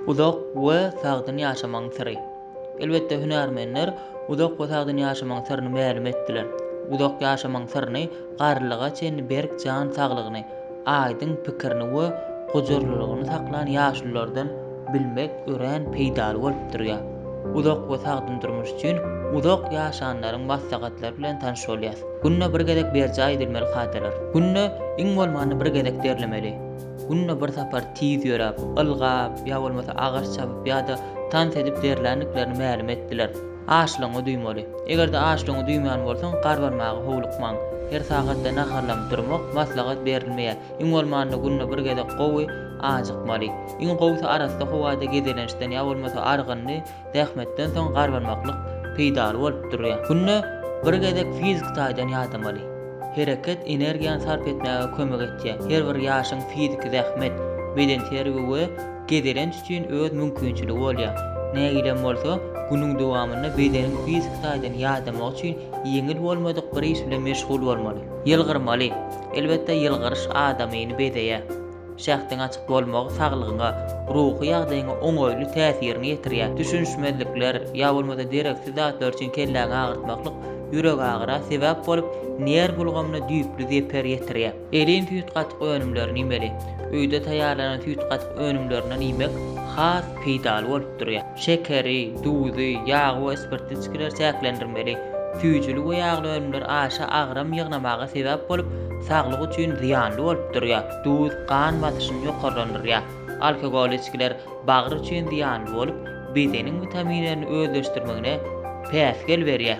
Uzak we sagdyn ýaşamagyň syry. Elbetde, hünärmenler uzak we sagdyn ýaşamagyň syryny mälim etdiler. Uzak ýaşamagyň syryny garrylyga çenli berk jan saglygyny, aýdyň pikirini we gujurlylygyny saklan ýaşululardan bilmek örän peýdaly bolup durýar. Uzak we sagdyn durmuş üçin uzak ýaşanlaryň maslahatlary bilen tanyş bolýas. Günde bir gezek berjaý edilmeli kadalar. Günde iň bolmanda bir gezek derlemeli. Günde bir sapar tiz ýöräp, ylgap ýa bolmasa agaç çapyp ýa-da tans edip derländiklerini mälim etdiler. Açlygyňy duýmaly. Eger-de açlygyňy duýman bolsaň, garbanmaga howlukmaň. Her sagatda naharlanyp durmak maslahat berilmeýär. Iň bolmanda günde bir gezek gowy ajykmaly. Iň gowusy arassa howada gezelençden ýa bolmasa argynly zähmetden soň garbanmaklyk peýdaly bolup durýar. Günde bir gezek fiziki taýdan ýadamaly. Hereket energiýany sarp etmäge kömek etýär. Her bir ýaşyň fiziki zähmet, bedenterbiýe we gezelenç üçin öz mümkinçiligi bolýar. Nägilem bolsa, günüň dowamynda bedeniň fiziki taýdan ýadamagy üçin ýeňil bolmadyk bir iş bilen meşgul bolmaly. Ýylgyrmaly. Elbetde, ýylgyryş adamyny bezeýär. Şähdiň açyk bolmagy saglygyňa, ruhy ýagdaýyňa oňaýly täsirini ýetirýär. Düşünişmezlikler ýa bolmasa dereksiz zatlar üçin kelläňi agyrtmaklyk ýüregagyra sebäp bolup, nerw ulgamyna düýpli zeper ýetirýär. Elin süýt-gatyk önümlerini iýmeli. Öýde taýýarlanan süýt-gatyk önümlerinden iýmek has peýdaly bolup durýar. Şekeri, duzy, ýagy we spirtli içgileri çäklendirmeli. Süýjüli we ýagly önümler aşa agram ýygnamaga sebäp bolup, saglyk üçin zyýanly bolup durýar. Duz gan basyşyny ýokarlandyrýar. Alkogolly içgiler bagyr üçin zyýanly bolup, bedeniň witaminlerini özleşdirmegine päsgel berýär.